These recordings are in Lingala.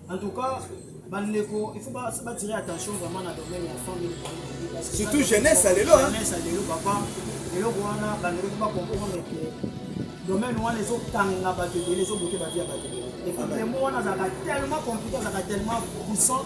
En tout cas, bandeko il faut batire attention vraiment na domaine ya famille surtout jeunesse ya lelo jeunesse ya lelo papa eloko wana bandeko ko bacomprendre ke domaine wana ezokanga bato ebele ezobote bavi ya bato ebele epuis demo wana azalaka tellement compliqué azalaka tellement puissant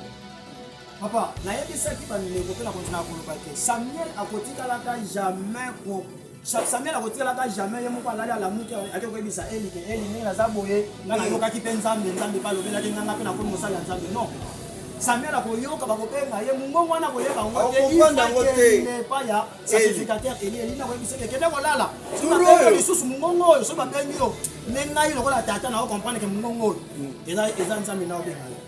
papa nayebisaki bandeko mpe nakontinaka koloba te samuel akotikalaka jamais ko samuel akotikalaka jamais ye moko alali alamuki ake koyebisa eli ke eli ndenge naza boye nga nayokaki mpe nzambe nzambe mpe alobelaki nga nga mpe nakomi mosali ya nzambe non samuel akoyoka bakobenga ye mongongo wana akoyeba yango teepa ya sacrificateur eli eli nakoyebisaki ekende kolala lisusu mongongo oyo soki babengi yo nde ngai lokola tata na okomprendre ke mongongo oyo eza nzambe na obenga yo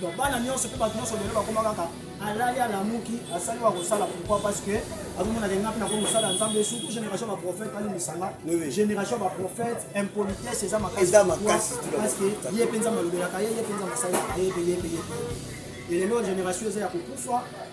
donc bana nyonso mpe bato nyonso lelo bakoma kaka alali alamuki asali wa kosala pourquoi parce que azomonaka nga mpe nakoki kosala nzambe surtout génération baprophète alimbisanga génération baprophète impolitesse eza makasi parce que ye mpe nzambe alobelaka ye ye mpe nzambe asalelaka ye mpe ye mpe ye mpe ye lelo génération eza ya kokufa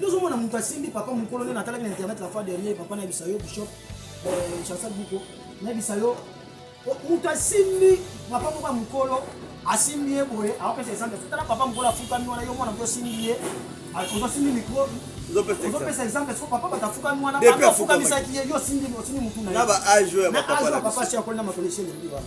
Nous avons un asimbi papa mukolo nde natalaki na internet la fois dernière papa na bisayo bishop euh, Chancel Biko na bisayo oh, moto asimbi papa moko ya mukolo asimbi ye boye akopesa exemple tala papa mukolo afukami wana yo mwana mpo osimbi ye ozosimbi mikro ozopesa exemple soko papa bato afukami wana afukamisaki ye yo osimbi motu na ye na age ya papa si akoli na makonisi elengi wana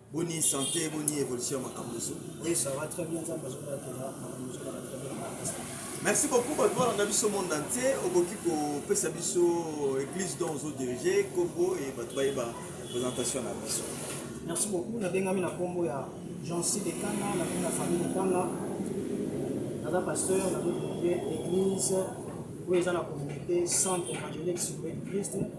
Boni santé, boni évolution ya makambo ezo. Oui, ça va très bien, nzambe azobatela makambo ezo kaka très bien na makasi. Merci beaucoup bato balanda biso monde entier, okoki kopesa biso église dont ozo diriger, kombo et bato bayeba présentation na biso. Merci beaucoup, nabengami na kombo ya Jean-Cy Dekanga, na kombo ya famille Dekanga. Naza pasteur, nazo diriger église oyo eza na communauté centre évangélique sur Christ.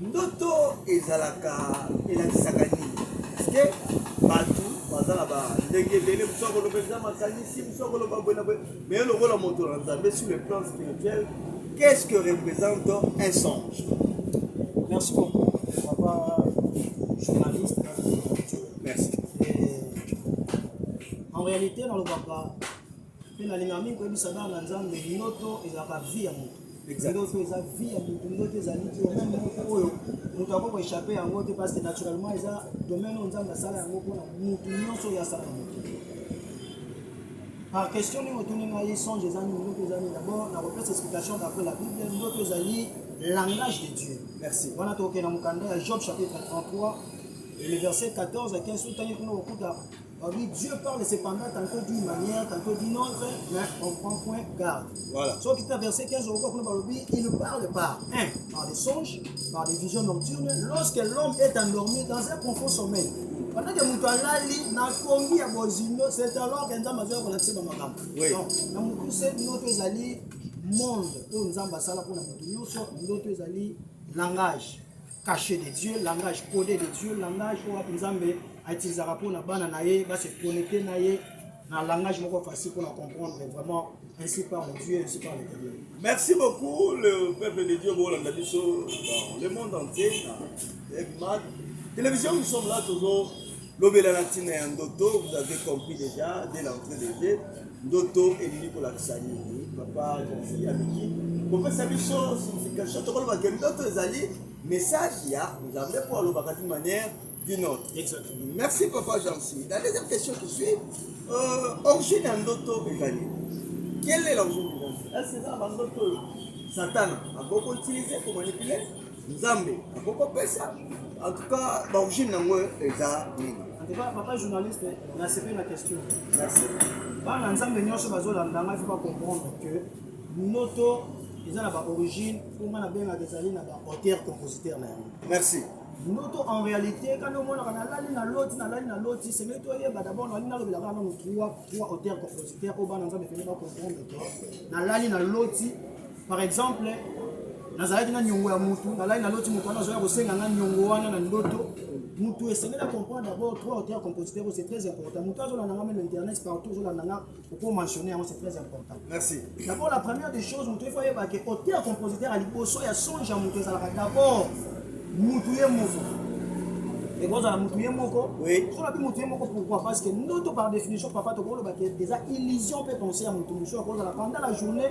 Ndoto ezalaka elakisaka nini? Parceke bato baza na ba ndenge ebele, mosu akoloba eza makanisi, mosu akoloba boye na boye, mais lokola moto na Nzambe sur le plan spirituel, qu'est-ce que représente un songe? Merci beaucoup, papa journaliste. Merci. Et, en réalité, nalobaka Mpe nalingaka mingi koyebisa bana na Nzambe, ndoto ezalaka vie ya moto. Ndoto eza vie ya moto, ndoto ezali te meme moko oyo moto akoki koechappe yango te, parce que naturellement eza domaine oyo Nzambe asala yango mpona moto nyonso oyo asala na moto. Par question nini otuni ngai songe eza nini, ndoto eza nini? D'abord nakopesa explication d'après la Bible, ndoto ezali langage de Dieu. Merci. Wana tokokende na mokanda ya Job chapitre 33 et le verset 14 à 15 otangi kuna okokuta Oui, Dieu parle cependant, tantôt d'une manière, tantôt d'une autre, mais on prend point garde. Voilà. Sauf qu'il verset 15 au cours il ne parle pas. Un, par des songes, par des visions nocturnes, lorsque l'homme est endormi dans un profond sommeil. Pendant que moto alali na kombi ya bozindo, c'est alors que Nzambe azali kolakisa ba makambo. Oui. Donc, na mokuse ndoto ezali monde oyo Nzambe asala mpo na moto nyonso, ndoto ezali langage. cache de Dieu, langage codé de Dieu, langage oyo wapi Nzambe autilisaka mpo na bana na ye base connecte na ye na langage moko facile mpo na comprendre vraiment ainsi par Dieu, ainsi par l'Éternel. Merci beaucoup le peuple de Dieu bolanda biso dans le monde entier na Egmad. Télévision nous sommes là toujours lobela na ntina ya ndoto vous avez compris déjà dès l'entrée de jeu ndoto elingi kolakisa nini papa kasi ameki kopesa biso signification tokoloba ke ndoto ezali message ya nzambe mpo alobaka d'une manière d'une autre merci papa jansi la deuxième question qui suit euh, origine ya ndoto ezali quelle est l'origine est-ce que eza na bandoto oyo satana akoki koutilize komanipule Nzambe akoki kopesa en tout cas ba origine nango eza nini en tout cas papa journaliste na sepeli na question merci bana nzambe nyonso bazolanda ngai fo bacomprendre que noto eza na ba origine mpo ngai nabengaka ezali na ba auteur compositeur na yango merci noto en réalité kani omonaka nalali na loti nalali na loti sengeli toyeba dabord nalali nalobelaka nano trois auteur compositeur oyo bana nzambe pene bacomprendre que nalali na loti Par exemple, nazalaki na niongo ya mutu, nalali naloti mutu wana azoya kosenga nga niongo wana na ndoto. Mutu esengeli comprendre d'abord trois auteurs ya compositeur c'est très important. Mutu azolanda nga meme internet partout azolanda nga oko mentionner yango c'est très important. Merci. D'abord la première des choses mutu il faut yeba que auteur compositeur aliboso ya songe ya mutu ezalaka d'abord mutu ye moko ekozala mutu ye moko soki nabi mutu ye moko pourquoi parce que ndoto par définition papa tokoloba ke eza illusion mpe conseil ya mutu mosusu akozala pendant la journée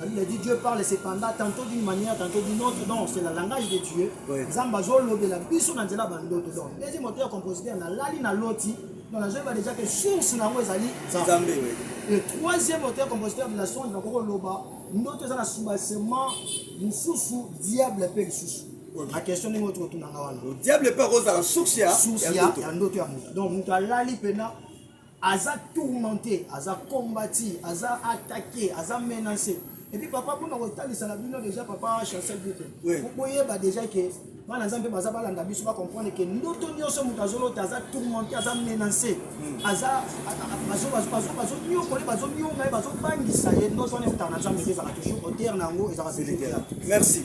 La Bible dit Dieu parle cependant tantôt d'une manière, tantôt d'une autre. Donc c'est le langage de Dieu. Nzambe azolobela biso na nzela bandoto. Donc deuxième auteur compositeur na lali na loti. Donc nazoyeba déjà que source na yango ezali Nzambe. Le troisième auteur compositeur de la songe nakoki koloba ndoto eza na soubassement mosusu diable mpe lisusu na question ndenge oyo tokotunanga wana diable mpe akozala source ya ndoto ya moto donc moto alali mpena aza tourmente aza combati aza attaque aza menace epuis papa mpona kotalisaka bino deja papa chancel bute boyeba deja ke bana nzambe baza balanda biso bacomprendre ke ndoto nyonso moto azolota aza tourmente aza menace hmm. aza bazonyokole bazonyonga ye bazobangisa ye ndoto wana eutaka na nzambe te ezalaka toujours otere na yango ezalaka merci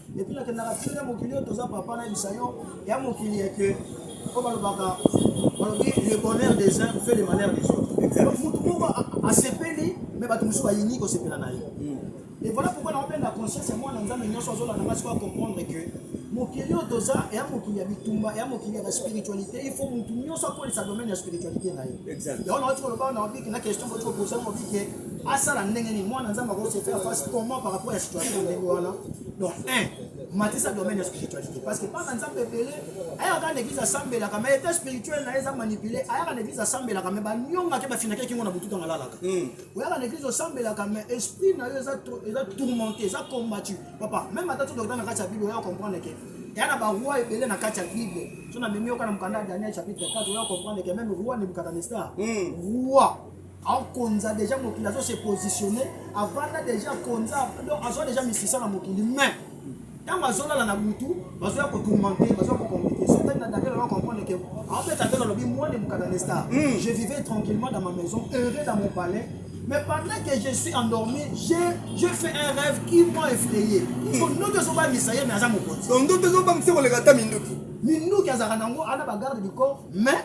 Depuis la kendaka fille ya mokili oyo toza papa na yebisa yo ya mokili ya que oyo balobaka balobi le bonheur des uns fait le malheur des autres. Donc moto moko asepeli mais bato mosusu bayini kosepela na ye. Hmm. Et voilà pourquoi na openda conscience ya mwana nzambe nyonso azolanda ngai sikoyo comprendre que mokili oyo toza eya mokili ya bitumba eya mokili ya baspiritualité il faut motu nyonso akolisa domaine ya spiritualité na ye yango naoti koloba na obike na question boti koposa na obike asala ndenge nini mwana nzambe ako se faire face comment par rapport ya situation ndenge wana donc un matisa domaine ya spiritualité parce que bana nzambe ebele ayaka na église asambelaka mais état spirituel na ye eza manipule ayaka na église asambelaka mais banyongaki bafinaki ekingo na butu ntango alalaka hmm. oyaka na église osambelaka mais esprit na yo eza tourmenté eza combattu papa même ata todokota na kati ya bible oya comprendre ke eya na baroi ebele na kati ya bible so na memi yoka na mokanda ya daniel chapitre 4 oya comprendre ke meme roi nebukadanestar hmm. roi akonza deja mokili azo se positionner avanda deja akonza donc azwa deja misisa na mokili mais ntango azolala na butu bazoya kotourmente bazoya kokomplike sotani na daniel aa comprendre ke aobeta te nalobi mwana mokata de star hmm. je vivais tranquillement dans ma maison heureux dans mon palais Mais pendant que je suis endormi, j'ai fait un rêve qui m'a effrayé. Hmm. Donc, nous devons pas misayer, mais à ça, mon Donc, nous devons pas misayer, on les gâte à Minduki. Minduki, à Zaranango, à la bagarre du corps, mais.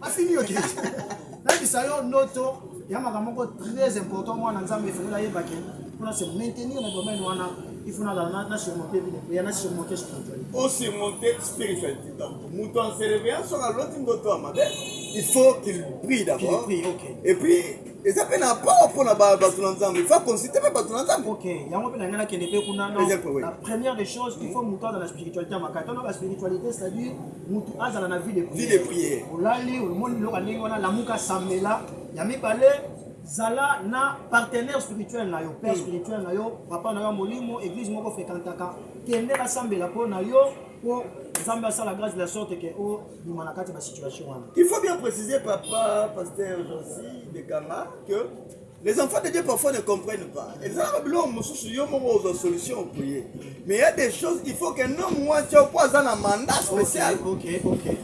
afini yo te nayebisa yo ndoto ya makambo moko très important mwana nzambe efungela ayebake mpo na se maintenir na domaine wana il faut nazala na surmonte bino mpe ya na surmonte spiritualité o surmonte spiritualité donc moto en se réveillant soki aloti ndoto ya mabe il faut qu'il prie d'abord et puis eza mpe na power mpo na bato na nzambe il faut aconsulte mpe bato na nzambe ok yango mpe na ngai nakende mpe kuna la première des choses il faut moto aza na spiritualité ya makasi tona baspiritualité c'est-à-dire mutu azala na vie de prière. Vie de prière. Olali omoni biloko ya ndenge wana lamuka sambela ya mibale zala na partenaire spirituel na yo père spirituel na yo papa na yo ya molimo église moko fréquentaka kende basambela mpo na yo mpo nzambe asala grâce de la sorte ke obima na kati ya basituation wana il faut bien préciser papa pasteur josi bekanga que Les enfants de Dieu parfois ne comprennent pas. Ezalaka biloko mosusu yo moko ozwa solution okoye. Mais il y a des choses il faut qu'un homme wati po aza na mandat spécial. Okay, okay.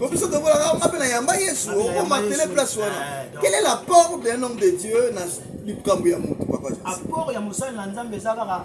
Ko biso tokolaka nga mpe na yamba Yesu okomatele place wana. Eh, Quel est l'apport d'un homme de Dieu na likambo ya moto papa? Apport ya mosali na Nzambe eza kaka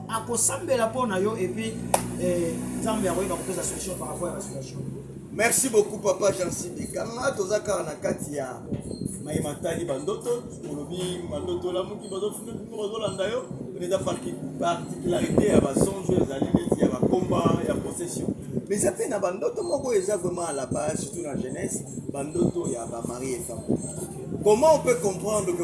akosambela mpo na yo epuis eh, nzambe akoyeba kopesa solution par rapport ya basituation merci beaucoup papa jansibi kanga toza kaka na kati ya maye matali bandoto olobi bandoto olamuki bazofuna bino bazolanda yo eza particularité ya basonge ezali neti ya bakomba ya possession mais eza mpe na bandoto moko eza vraiment à la base surtout na jeunesse bandoto ya bamari efamo comment on peut comprendre que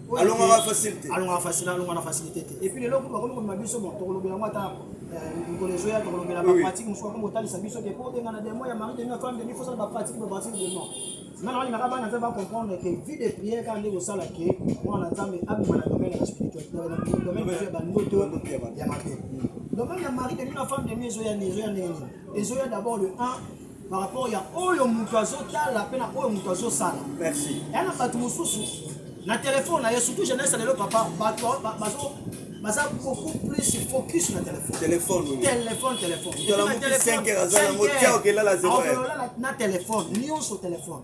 alongaka facile te alongaka facile alonga na facilité te et puis lelo kutu bakomi komema biso bon tokolobela yango ata mikolo ezoya tokolobela bapratique mosusu bakomi kotalisa biso te mpo obenga na demo ya mari demi femme demi fosala bapratique bapratique de non nga nalaki naka bana nzambe bacomprendre ke vie de prière kaka nde kosala ke mwana nzambe abima na domaine ya spiritualité domaine ya bandoto ya mabe domaine ya mari demi na femme demi ezoya nini ezoya nini ezoya d'abord le 1 par rapport ya oyo moto azotala mpe na oyo moto azosala merci ya na bato mosusu na telefone na ye surtout jeunesse lelo papa bato bazo baza beaucoup plus focus na telefone telefone telefone telefone telefone na telefone nyonso telefone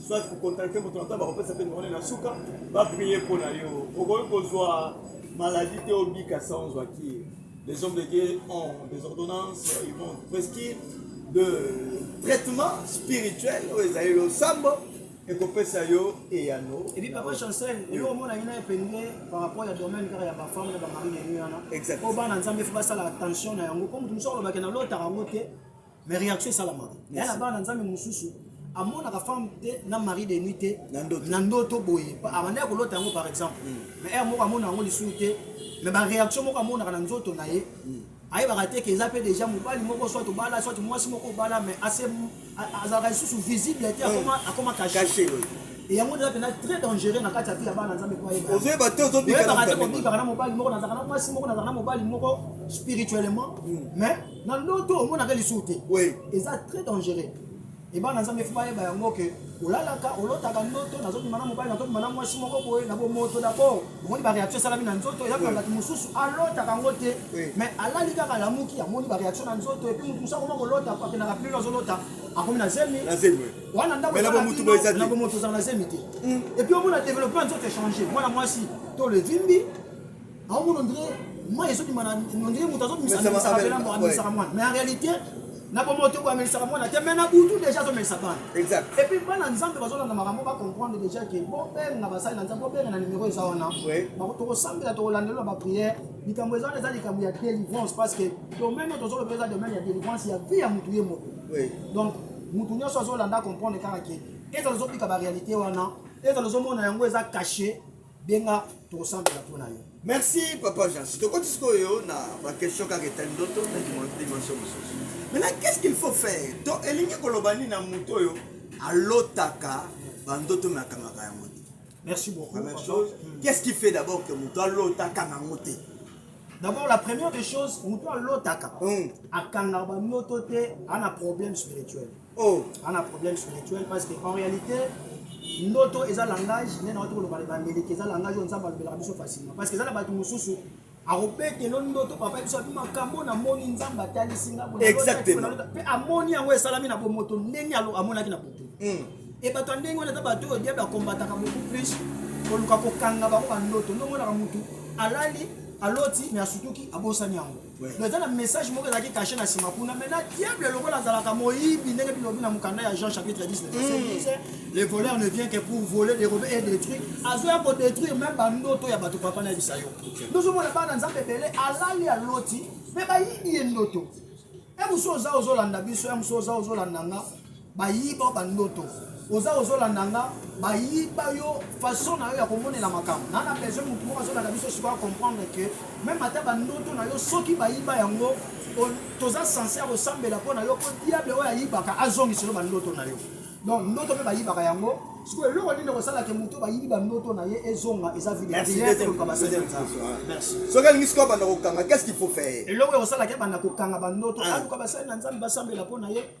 soit kokontakte moto na ntango bakopesa mpe nomone na suka baprie mpo na yo okoki kozwa maladi te obika sa ozwa ki les hommes de dieu ont des ordonnances ils vont prescrire de traitement spirituel oyo ezali losambo ekopesa yo eyano epi papa chancel yo omonaki na epenge par rapport ya domaine kaka ya bafame na bamari na yo wana po bana nzambe fo basala attention na yango po moto mosusu alobake na lotaka yango te mais réaction esalamaka ya na bana nzambe mosusu amonaka femme te na mari de nuit te na ndoto boye abanda ya kolota yango par exemple mm. mais heure moko amona yango lisusu te mais baréaction moko amonaka na nzoto na ye mm. ayebaka te ke eza mpe déjà mobali moko soit obala soit mwasi moko obala mais azalaka lisusu visible te mm. akoma cache yango eza mpenza très dangereux na kati ya vie ya bana nzambe po ayebaka te kobikaka na mobali moko nazalaka na mwasi moko nazalaka na mobali moko spirituellement mais na ndoto omonaka lisusu te oui. eza très dangereux ebana nzambe fo bayeba yango ke olalaka olotaka ndoto nazobima na mobali nazobima na mwasi moko boye na bomoto dabord omoni bareaction esalami na nzoto eyaka bato mosusu alotaka yango te mais alali kaka alamuki amoni bareaction na nzoto epuis moto mosusu akoma kolota akendaka plilo azolota akomi na zemi wana ndakona bomoto ozala na zemi te epuis omona développement ya nzoto echange mwana mwasi to levimbi Aomona ondire mai ezobima na ondire moto azobimisaka bela moko amelisaka mwana mais en réalité na bomoi te koamelisaka mwana te mais na butu déjà azomelisa bana epuis bana nzambe bazolanda makambo bacomprendre déjà ke bobenga basali na nzambe bobenga na nimero eza wana tokosambela tokolandelela baprière likambo eza wana eza likambo ya délivrance parce que domaine oyo tozoloba eza domaine ya délivrance ya vie ya motu ye moko donc motu nyonso azolanda comprendre kaka ke ezala ozobika baréalité wana ezala ozomona yango eza cache benga tokosambela mpo na yo merci papa jansi tokoti sikoyo na baquestion kaka etali ndoto na dimension mosusu maintenant qu'est ce qu'il faut faire to elingi koloba nini na moto oyo alotaka bandoto me akangaka yango te merci beaucoup première chose hmm. qu'est ce qui fait d'abord que moto alotaka nango te d'abord la première des choses moto alotaka hmm. akangaka bandoto te ana problème spirituel Oh, on a problème sur les tuiles parce que en réalité, ndoto eza langage, mais na watu koloba ba meleke eza langage on zamba lobela biso facilement parce que eza na batu mususu akobetelo ndoto papa biso abi makambo na moni nzambe atalisi nga boye exactement pe amoni yango esalami na bomoto ndenge alo amonaki na boto hmm. e bato ya ndenge wana eza bato oyo diable akombataka beaucoup plus koluka kokanga bango bandoto ndomonaka mutu alali aloti me asutuki abosani yango mais eza na message moko ezalaki cache na nsima kuna mai na diable lokola azalaka moyibi ndenge bilobi na mokanda ya jean chapitre 10 mm. le voleur ne vient que pour voler dérobe et détruire azoya kodétruire même bandoto ya bato papa nayebisa yo tozomona bana nzambe ebele alali aloti mpe bayibi ye ndoto ya mosu oza ozolanda biso ya mosu oza ozolanda nga Bayiba yo ba ndoto oza ozo landa nga bayiba yo façon na yo ya komonela makambo na na besoin mutu moko azolanda biso sikoyo a comprendre que meme ata ba ndoto na yo soki bayiba yango toza sense ya kosambela mpo na yo mpo diable oyo ayibaka azongiselo ba ndoto na yo donc ndoto mpe bayibaka yango sikoyo eloko nini kosala ke moto bayibi ba ndoto na ye ezonga eza videoluka basali soki alingi sikoyo banda kokanga qu'est ce qu'il faut faire eloko ya kosala ke banda kokanga ba ndoto aluka basali na nzambe basambela mpo na ye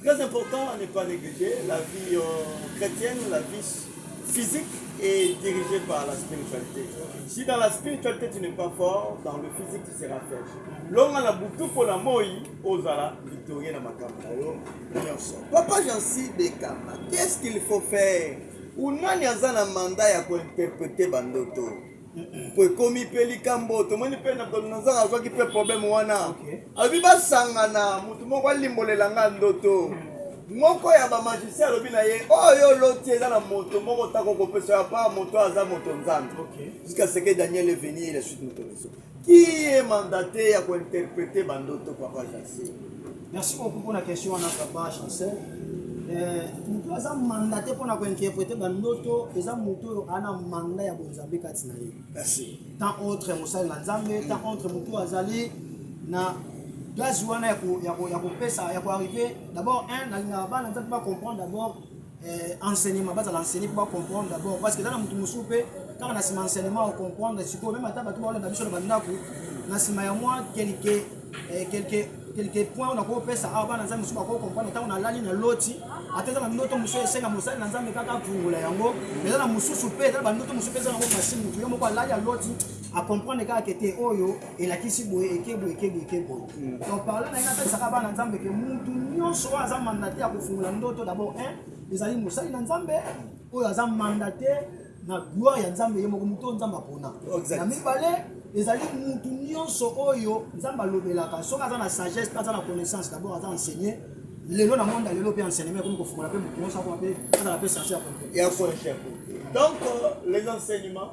Très important à ne pas négliger la vie euh, chrétienne, la vie physique est dirigée par la spiritualité. Si dans la spiritualité tu n'es pas fort, dans le physique tu seras faible. Longa na butu pour la moi, ozala victorieux na makambo na yo nyonso. Papa Jean-Cy Bekama, qu'est-ce qu'il faut faire? Ou nani aza na mandat ya ko interpréter bandoto? mpo ekomi mpe likambo tomoni mpe nabukodonozor azwaki mpe probleme wana alobi basangana motu moko alimbolela nga ndoto moko ya bamagisi alobi na ye oyo oh, oloti eza na moto moko otako kopesa ya pa moto aza moto nzambe jusqu'à ce que daniel est venu la suite moto biso qui est mandaté ya kointerprete bandoto papa jasi Merci beaucoup pour la question wana papa chancel. Euh, moto oyo aza manda te mpo na kointerprete bandoto eza moto oyo ana manda ya bonzambe kati na ye tant autre mosali na nzambe tant mm. autre moto oyo azali na gaz wana ya kopesa ya koarrive d'abord un nalingaka bana nzambe bacomprendre d'abord eh, enseignement bazala enseigner mpo bacomprendre d'abord parce que eza na moto mosusu mpe kaka na nsima enseignement ocomprendre sikoyo meme ata bato baolanda biso na bandako na nsima ya mwa quelque eh, quelque quelque point oyo nakoki kopesa awa bana nzambe mosusu bakoki comprendre ntango nalali na loti ata eza na ndoto mosusu esenga mosali na nzambe kaka apungola yango eza na mosusu mpe eza na bandoto mosusu mpe eza nango masini motu ye moko alali aloti acomprendre kaka kete oyo elakisi boye eke boye eke boye eke boye hmm. donc parle na ye napesaka bana nzambe ke mutu nyonso oyo aza mandate ya kofungola ndoto d'abord un ezali mosali na nzambe oyo aza mandate na gloire ya nzambe ye moko moto oyo nzambe apona na mibale ezali mutu nyonso oyo nzambe alobelaka soki aza na sagesse aza na connaissance d'abord aza enseigne lelo na monde lelo mpe enseignement ekomi kofungola mpe motu nyonso akoma mpe azala mpe sage ya donc euh, les enseignements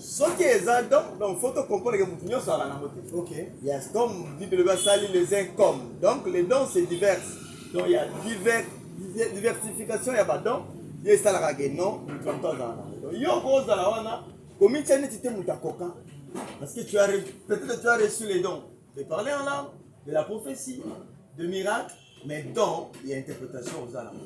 soki eza don donc faut to comprendre que mutu nyonso azalaka nango te ok yes comme bible elobi asali les uns comme donc les dons c'est divers donc ya divers diversification ya badon ye esalaka ke non mutu ya moto azala nango donc yo okozala wana komitya neti te moto akoka parce que tu as peut-être tu as reçu les dons de parler en langue de la prophétie de miracle mais don ya interprétation oza nango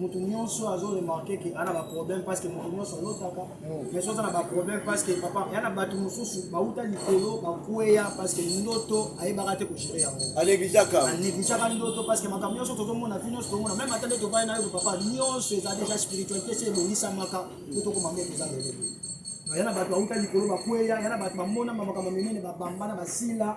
moto nyonso azo remarke ke ana ba problème parce que moto nyonso alotaka mm. mais oza na ba problème parce que papa ya na bato mosusu bauta likolo bakweya parce que ndoto ayebaka te kogere yango aneglijaka aneglijaka ndoto parce que makambo nyonso tozomona vi nyonso tomona meme ata nde tovai na yo papa nyonso eza déjà spiritualité se ebongisamaka po tokoma mbe toza lelo ya na bato bauta likolo bakweya ya na bato bamonama makambo minene babambana basila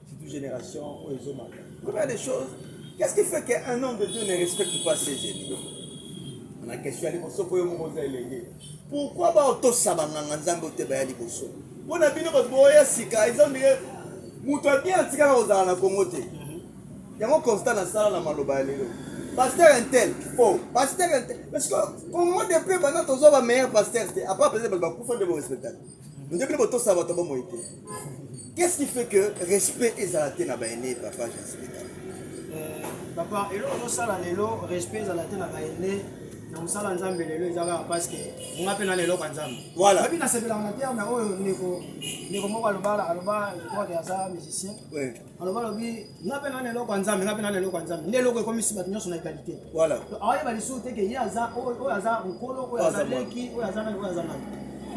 Surtout génération oyo ezomaka. Combien de choses Qu'est-ce qui fait qu'un homme de Dieu ne respecte pas ses aînés Na question ya liboso mpo yo moko oza elenge. Pourquoi baotosa banganga nzambe oyo te baya liboso? Mpo na bino bato boya sika eza ondire moto ya bien atikala kozala na Congo te. Yango constat nasala na maloba ya lelo. Pasteur intel faux. Pasteur intel parce que Congo de peu banda tozwa ba meilleurs pasteurs te. Apart peut-être bato bakufa nde bo respectaka. Nde bino botosa bato ya bomoi te. Qu'est-ce qui fait que respect ezala te na baine papa Jasmine euh, Papa, eloko tozosala lelo respect ezala te na baine na mosala nzambe lelo eza kaka parceke nga mpe na lelo kwa nzambe voilà abi nasepelaka na terme oyo ndeko ndeko moko aloba aloba je crois ke aza musicien aloba alobi nga mpe nana eloko ya nzambe nga mpe nana eloko ya nzambe nde eloko ekomisi bato nyonso na egalite voilà aoyeba lisusu te ke ye aza oyo aza mokolo oyo aza leki oyo aza nani oyo aza nani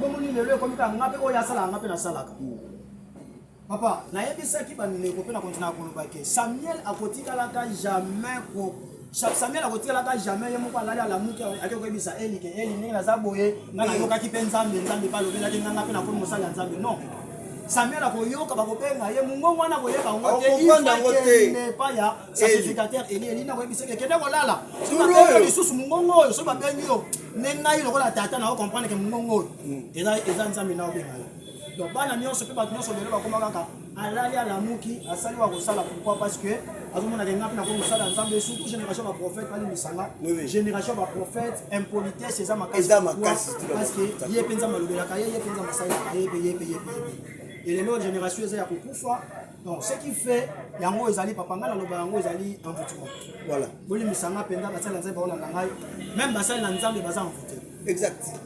bomoni lelo ekomi kaka nga mpe oyo asalaka nga mpe nasalaka hmm. papa nayebisaki bandeko mpe na kontinaka kolobake samuel akotikalaka jamais Samuel akotikalaka jamais ye moko alali alamuki ake koyebisa Eli ke Eli ndenge naza boye ngai nayokaki mpe Nzambe Nzambe mpe alobelaki ngai ngai mpe nakomi mosali ya Nzambe non Samuel akoyoka bakobenga ye mongongo wana koyeba yango te ifakenepa ya sacrificateur Eli Eli nakoyebisa ke kende kolala soki lisusu mongongo oyo soki babengi yo nde ngai lokola tata na okomprendre ke mongongo oyo hmm. eza Nzambe na obenga yo donc bana nyonso mpe bato nyonso lelo bakoma kaka alali alamuki asali wa kosala pourquoi parce que azomona ke nga mpe nakoki kosala nzambe surtout génération baprophète balimbisanga génération baprophète impolitesse eza makasi parce que ye mpe nzambe alobelaka ye ye mpe nzambe asalelaka ye mpe ye mpe ye mpe ye mpe elelo génération eza ya kokufa donc ce qui fait yango ezali papa ngai naloba yango ezali envoutiment voilà bolimbisanga mpenza basali na nzambe baolanda ngai meme basali na nzambe baza envoute exact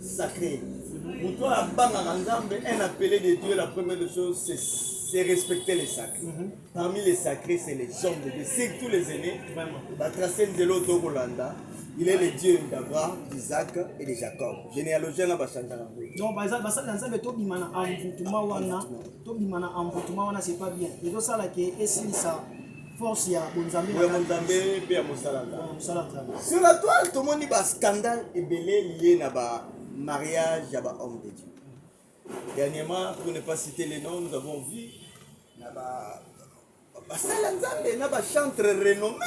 sacré moto oyo abangaka nzambe un appelé de dieu la première de chose c'est respecter les sacrés mm -hmm. parmi les sacrés c'est les hommes de dieu surtout les aînés batrace nzela oyo tokolanda il est le dieu d'abraham d'isaac et de jacob généalogie wana bachanzaka donc basali na nzambe tobima na envoutuma wana tobima na envoutuma wana c'est pas bien ezosala ke esilisa force ya bonzambe ya bonzambe mpe ya mosala nzambe sur la toile tomoni ba scandale ebele liye na ba mariage ya ba homme de dieu dernièrement pour ne pas citer les noms nous avons vu na ba basala nzambe na bachantre renommé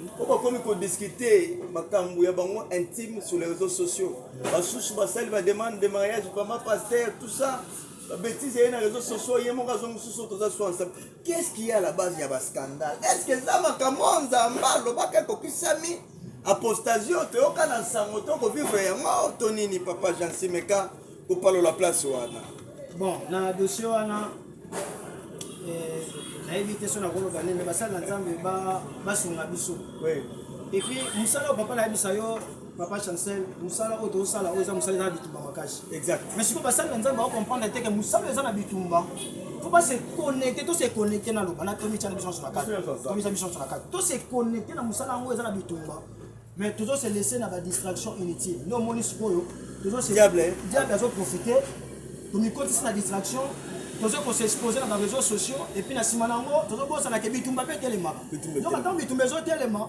mpo bakomi kodiscute makambo ya bango intime sur les réseaux sociaux basusu basali bademande de mariage pama paster tout ça babetise ye na réseaux sociaux ye moko azongi susu toza swansa Qu'est-ce qui est à la base ya ba scandale? Est-ce que eza makambo oyo Nzambe alobaka ekokisami? Apostasie oyo toyoka na nsango to kovivre yango to nini papa Jean Simeka kopalola place wana? Bon, na dossier wana eh, nayebi te so nakoloba nini, basali na Nzambe basunga biso. Oui. Et puis mosala oyo papa nayebisa yo papa chancel mosala oyo tozosala oyo eza mosala eza na bitumba makasi mais sikoyo basali na nzambe bakokomprendre te ke mosala eza na bitumba faut pas se connecter to se connecter na loba na tomi tya na biso nso na kati tomi tya biso nso na kati to se connecter na mosala yango eza na bitumba mais tozo se laisser na ba distraction inutile nde omoni sikoyo tozo se diable diable azo profiter tomikotisi na distraction tozo kosexpose na ba réseaux sociaux et puis na nsima na yango tozobosanaka bitumba mpe etelemaka donc ntango bitumba ezotelema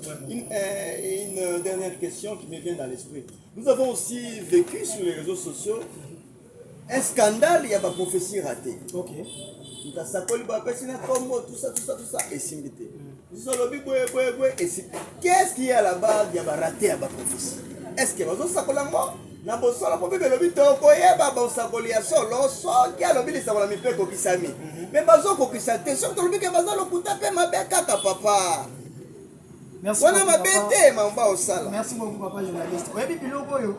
Une, euh, une, euh, dernière question qui me vient dans l'esprit. Nous avons aussi vécu sur les réseaux sociaux un scandale ya baprophétie raté okay. ntasakoli bapesi na nkombo tusa tusa tusa esimbi te biso mm. alobi boye boye boye esimbi qu'est-ce qui est à la base ya barate ya baprophétie est ce que bazosakola ngo na bosolo mpo bible elobi tokoyeba bosakoli ya solo soki alobi lisakolami mpe ekokisami me mhm. bazokokisa te soki tolobi ke baza lokuta mpe mabe kaka papa wana mabe te mamba osala merci beaucoup papa journaliste oyebi biloko oyo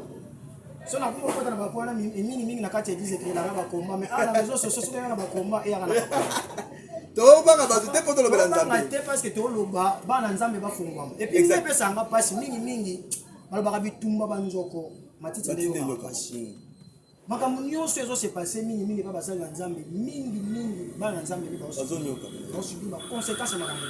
so na kuma kota na bako wana mingi mingi na kati ya eglise ekelelaka bakomba mais awa na réseau sociaux soki na bakomba eyaka na tobanga bato te mpo tolobela nzambe te parce que toloba bana nzambe bafungwama epuis nde epesanga mpasi mingi mingi balobaka bitumba banzoko matiti nde yokaka mpasi makambo nyonso ezo se passe mingi mingi epai basali ya nzambe mingi mingi bana na nzambe nde baosubi baconséquence ya makambo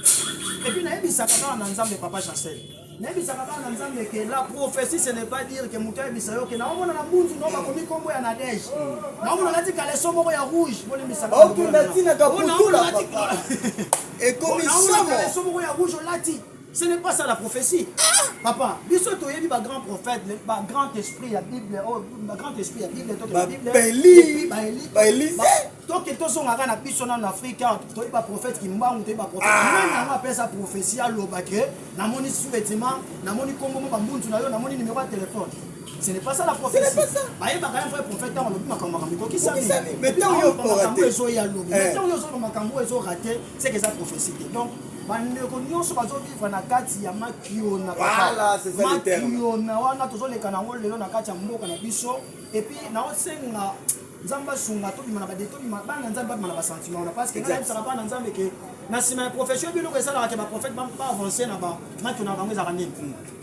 epuis nayebisaka kaka na nzambe papa chancel nayebisaka kaka na nzambe ke la prophétie ce n'est pas dire ke moto ayebisa yo ke naomona na mbunzu no bakomi nkombo ya nadege naomona nati kaleso moko ya rouge bolimbisakaokenda ntina kaputula ekomi somo ya rouge olati Ce n'est pas ça la prophétie. Papa, biso toyebi ba grands prophètes, ba grand esprit ya Bible, oh, ba grand esprit ya Bible, to ba Bible. Ba Eli, ba Eli, ba Eli. To ke to songa na biso na Afrika, to ba prophète ki mbangu, to ba prophète. Ah. Même na ma pesa prophétie à loba que na moni sous-vêtement, na moni kombo ba mbunzu na yo, na moni numéro de téléphone. Ce n'est pas ça la prophétie. Ce n'est pas ça. Bah, il va quand même vrai prophète dans le makambo makambo ko kisami. Mais tant yo ko raté. Mais tant yo zo ya lobi. Mais tant yo zo makambo zo raté, c'est que ça prophétie. Donc bandeko nyonso bazovivre na kati ya makiona makiona wana tozoleka na yango lelo na kati ya mboka na biso epuis naosenga nzambe asunga tobima na bade tobima bana nzambe babima na basentiment wana parce que nayebisaka bana nzambe ke na nsima ya profession biloko esalaka ke baprofete baavance na bamakiona na bango ezalaka nini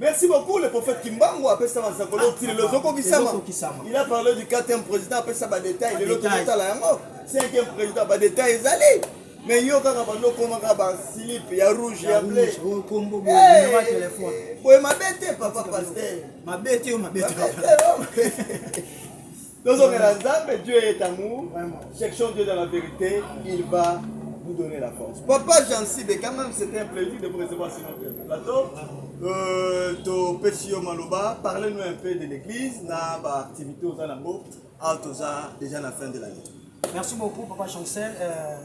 Merci beaucoup le prophète Kimbangu apesa masakolo ah, ti lelo ezokokisama il a parlé du quatrième président apesa badetail lelo tokotala yango cinquième président badetail ezali mais yo kaka bando okomaka basilipe ya rouge ya ble boye mabe te papa pasteur mabe te yo mabe te tozongela nzambe dieu est amour cherchons dieu dans la vérité il va vous donner la force papa jansi de quand même c'était un plaisir de vous recevoir sur notre plateau euh, topesi yo maloba parle nous un peu de l'église na baactivité oza nango awa toza déjà na fin de l'année merci beaucoup papa chancel euh...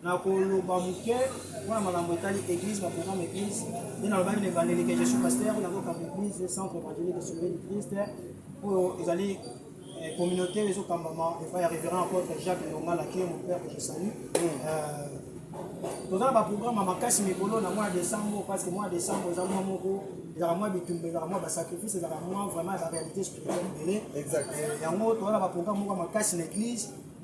Na koloba muke pona makambo etali eglise ba programme eglise nde nalobaki na ebandeli ke je suis pasteur na kokamba eglise centre evangelique de sauver du Christ oyo ezali eh, communauté oyo ezokambama epai ya révérend apôtre Jacques Longala qui est mon père que je salue euh, toza na baprogramme ya makasi mikolo na mois décembre parce que mois décembre eza mwa moko ezalaka mwa bitumba ezalaka mwa basacrifice ezalaka mwa vraiment ya baréalité spirituelle ebele yango toza na baprogramme moko ya makasi na église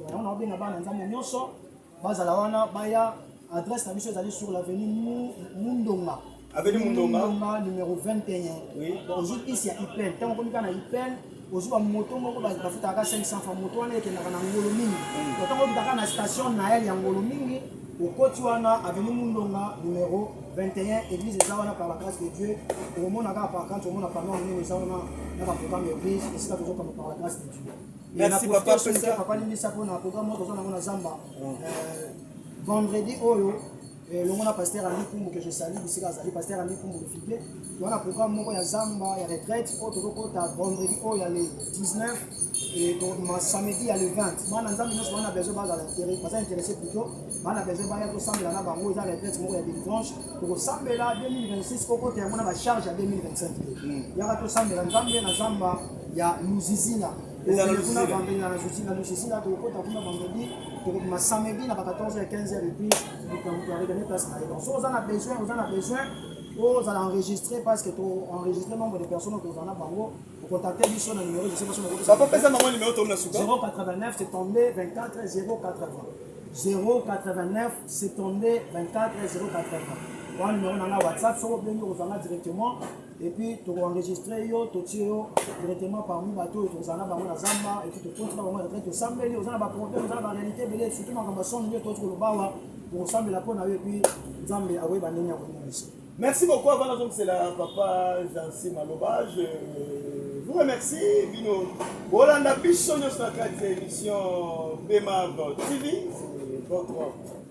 Yango na obenga bana nzambe nyonso bazala wana baya adresse na biso ezali sur l'avenue Mundonga. Avenue Mundonga. Mundonga numéro 21. Oui. Ozwi isi ya IPEL. Ntango okomi kaka na IPEL, ozwi ba moto moko bafutaka ka 500 francs moto wana ekendaka na ngolo mingi. Mm. Ntango okitaka na station Nael ya ngolo mingi, okoti wana avenue Mundonga numéro 21 église eza wana par la grâce de Dieu. Okomona kaka par contre omona panneau nini eza wana na ba programme église esika tozokamba par la grâce de Dieu. merci papa pesa papa limbisa mpo na programme oyo toza nango na zamba mm. euh, vendredi oyo euh, longo na pasteur ami kumbu que je sali bisika azali pasteur ami kumbu le figue toza na programme moko ya zamba ya retraite oyo tozokota vendredi oyo ya le 19 et ma samedi ya le 20 bana nzambe nyonso bana besoin bazala intérêt baza intéressé plutôt bana besoin baya tosambela na bango eza retraite moko ya délivrance tokosambela 2026 kokota yango na bacharge ya 2025 te yaka tosambela nzambe na zamba ya luzizina kuna vendredi na luzizina luzizina tokokota kuna vendredi tokobima samedi na ba 14 ya 15 heure epuis moto aregane place na ye donc so oza na besoin oza na besoin ozala enregistré parce que to enregistré nombre de personnes oyo tozala na bango contacte biso na numero jose biso nakopesapesa bango numero tomi na suka 089 72 24 080 089 72 24 080 wana numero na nga whatsapp soko obengi okozanga directement et puis toko enregistrer yo totie yo directement parmi bato oyo tozala na bango na zamba et puis tokoti na bango na trai tosambeli oza na baproblème oza na baréalité ebele surtout makambo ya songe nde toti koloba awa tokosambela mpo na yo et puis nzambe akoyeba ndenge ya komonisa merci beaucoup avant nazongisela papa jansi maloba je vous remercie bino bolanda biso nyonso na kati ya émission bemab tv votre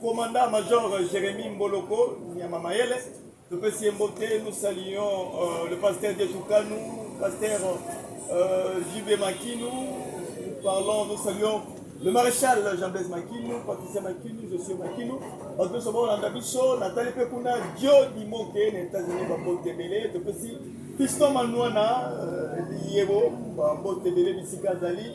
Commandant Major Jérémy Mboloko Nyama Mayele, topesi ye mbote, nous saluons euh, le pasteur Dietukanu, pasteur euh, JB Makinu, nous parlons, nous saluons le maréchal Jean-Blaise Makinu, Patricia Makinu, je suis Makinu, bato nyonso baolanda biso, natali mpe kuna Dio Dimoke na États-Unis bambote ebele, topesi Fiston Manuana, euh, Yebo, bambote ebele bisika azali,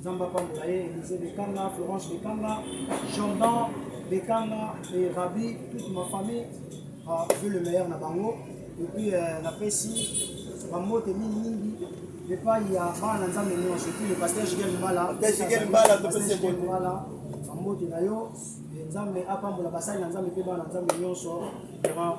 Nzambe apambola ye, Elise Bekanga, Florence Bekanga, Jordan Bekanga et Rabi, toute ma famille, ah, veut le meilleur na bango. Et puis euh, na pesi bambote mingi mingi epai ya bana na Nzambe nyonso, epai le pasteur Jigel Mbala, Pasteur Jigel Mbala, Pasteur topesi Jigel ekolo. Mbala, bambote na yo, Nzambe apambola basali na Nzambe mpe bana na Nzambe nyonso. Vraiment,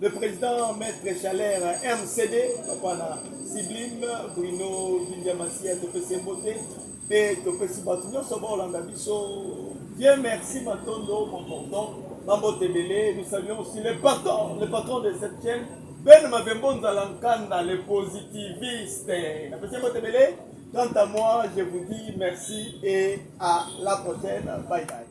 Le président Maître Chalère MCD, papa na Siblime, Bruno Bindiamasia, topesi mbote mpe topesi bato nyonso baolanda biso bien merci matondo maporton bambote ebele nous saluons aussi le patron le patron de cette chaîne ben mabembo nzala nkanda le positiviste napesi mbote ebele quant à moi je vous dis merci et à la prochaine bye bye